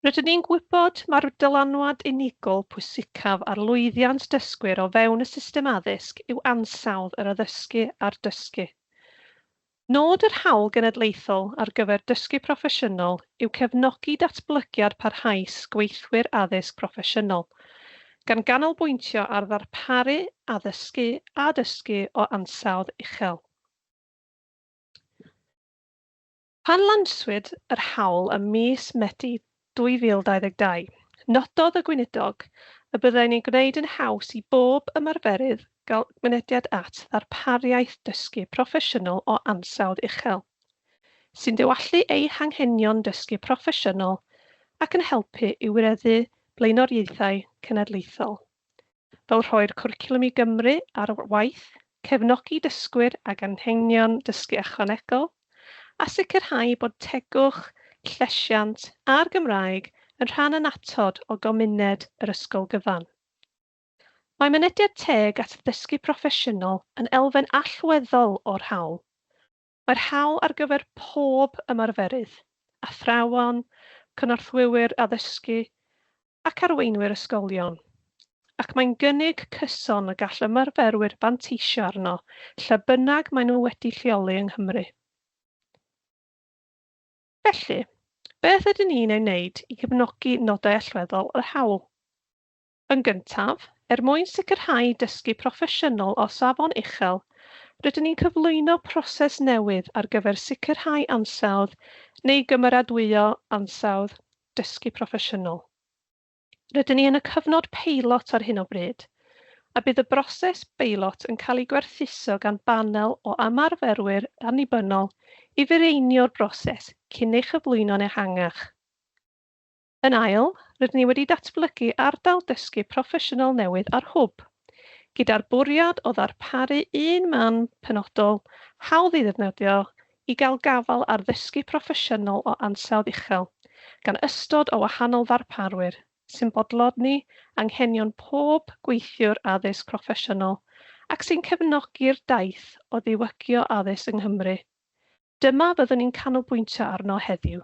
Rydyn ni'n gwybod mai'r dylanwad unigol pwysicaf ar lwyddiant dysgwyr o fewn y system addysg yw ansawdd yr addysgu a'r dysgu. Nod yr Hawl Genedlaethol ar gyfer Dysgu Proffesiynol yw cefnogi datblygiad parhaus gweithwyr addysg proffesiynol, gan ganolbwyntio ar ddarparu addysgu a dysgu o ansawdd uchel. Pan lanswyd yr hawl ym mis Medi 2022, nododd y Gweinidog y byddai'n ei gwneud yn haws i bob ymarferydd gael mynediad at ddarpariaeth dysgu proffesiynol o ansawdd uchel, sy'n diwallu eu hanghenion dysgu proffesiynol ac yn helpu i wireddu blaenoriaethau cenedlaethol. fel rhoi'r cwricwlwm i Gymru ar waith, cefnogi dysgwyr ag anghenion dysgu ychwanegol, a sicrhau bod tegwch, llesiant a'r Gymraeg yn rhan annatod o gymuned yr ysgol gyfan. Mae mynediad teg at ddysgu proffesiynol yn elfen allweddol o'r hawl, Mae'r hawl ar gyfer pob ymarferydd, athrawon, cynorthwywyr addysgu ac arweinwyr ysgolion, ac mae'n gynnig cyson y gall ymarferwyr fanteisio arno lle bynnag maen nhw wedi lleoli yng Nghymru. Felly, beth ydyn ni'n ei wneud i gefnogi nodau allweddol yr hawl? Yn gyntaf, er mwyn sicrhau dysgu proffesiynol o safon uchel, rydyn ni'n cyflwyno proses newydd ar gyfer sicrhau ansawdd neu gymeradwyo ansawdd dysgu proffesiynol. Rydyn ni yn y cyfnod peilot ar hyn o bryd, a bydd y broses beilot yn cael ei gwerthuso gan banel o ymarferwyr annibynnol i fireinio'r broses cyn ei chyflwyno'n ehangach. Yn ail, rydyn ni wedi datblygu ardal dysgu proffesiynol newydd ar Hwb, gyda'r bwriad o ddarparu un man penodol, hawdd ei ddefnyddio, i gael gafael ar ddysgu proffesiynol o ansawdd uchel, gan ystod o wahanol ddarparwyr, sy'n bodloni anghenion pob gweithiwr addysg proffesiynol ac sy'n cefnogi'r daith o ddiwygio addysg yng Nghymru. Dyma fyddwn ni'n canolbwyntio arno heddiw.